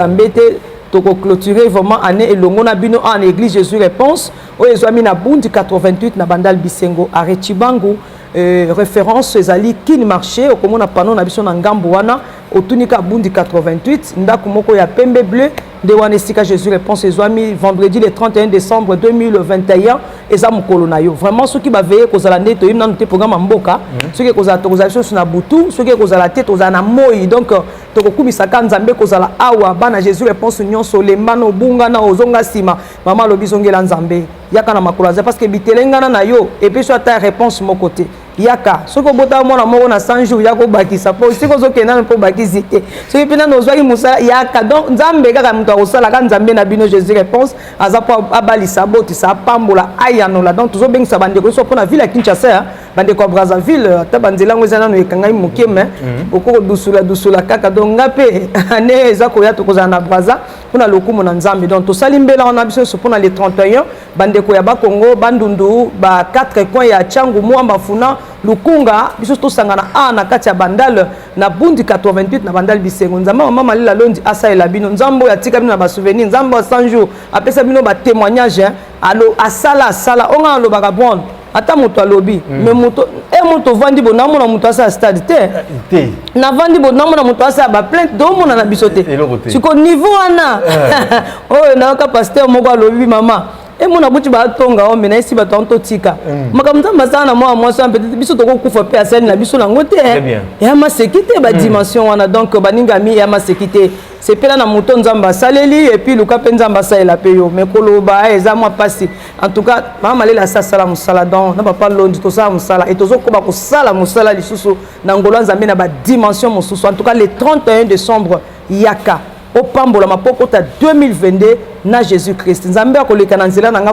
nzambe te tokoclotire vraiment année elongo na bino en église jésus réponse oyo ezwami na bundi 88 na bandal bisengo arret chibangu euh, référence ezali kin marché okomona pano na biso na ngambo wana otunika bundi 88 ndako moko ya pembe bleu nde wana esika jésus réponse ezwami vendredi le 31 décembre 2021 eza mokolo na yo vraiment soki baveye ekozala nde toyebi nanu te programme ya mboka mhm. soki ekozala tokozala biso na butu soki ekozala te tozala na moi donc tokokumisa ka nzambe kozala awa bana jésus réponse nyonso olemba na obunga na ozonga nsima mama alobi zongela nzambe yaka na makolo aza parce que bitelengana na yo epeso ata réponse moko te yaka soki obotaka mwana moko na 100 jours ya kobakisa mpo soki ozokende nano mpo obakisi te soki mpe nano ozwaki mosala yaka donc nzambe kaka moto akosalaka nzambe na bino jésus réponse aza mpo abalisa abotisa apambola ayanola donc tozobengisa bandeko nyonso mpo na ville ya kinshasa bandeko ya brazzaville ata banzela yango eza nano ekangami moke me mhm. okoki kodusula dusula kaka donc nga mpe ane eza koya tokozala na braza mpo na lokumu na nzambe donc tosali mbela wana biso nyonso mpo na le 31 bandeko ya bakongo bandundu ba 4 coin ya changu mwamba funa lukunga biso tosangana a na kati ya bandal na bundi 88 na bandal bisengo nzambe mama malela londi asalela bino nzambe oyo atika bino na basouvenir nzambe ya 100 jour apesa bino batémoignage alo asala asala onga alobaka bon ata moto alobi mm. me moto e moto ovandi bo namona moto asala stade te eh, te navandi bo namona moto asala baplainte domona na biso te siko niveau wana eh. oyo nayoka paster moko alobi mama emona buti batonga o mena esi bato yango totika mm. makambo nzambe asala na mwana mwasi wana peut-être biso tokokufa mpe asali na biso nango te ya maseki te badimension mm. wana donc baningami ya maseki te sepela na moto nzambe asaleli epuis luka mpe nzambe asalela mpe yo me koloba eza mwa mpasi en tout cas mama malela asi asala mosala donc na papa londi tosala mosala e tozokoba kosala mosala lisusu na ngolo ya nzambe na badimension mosusu en tout cas le 31 décembre yaka opambolama mpo okota 2022 na jésus christ nzambe akoleka na nzela na nga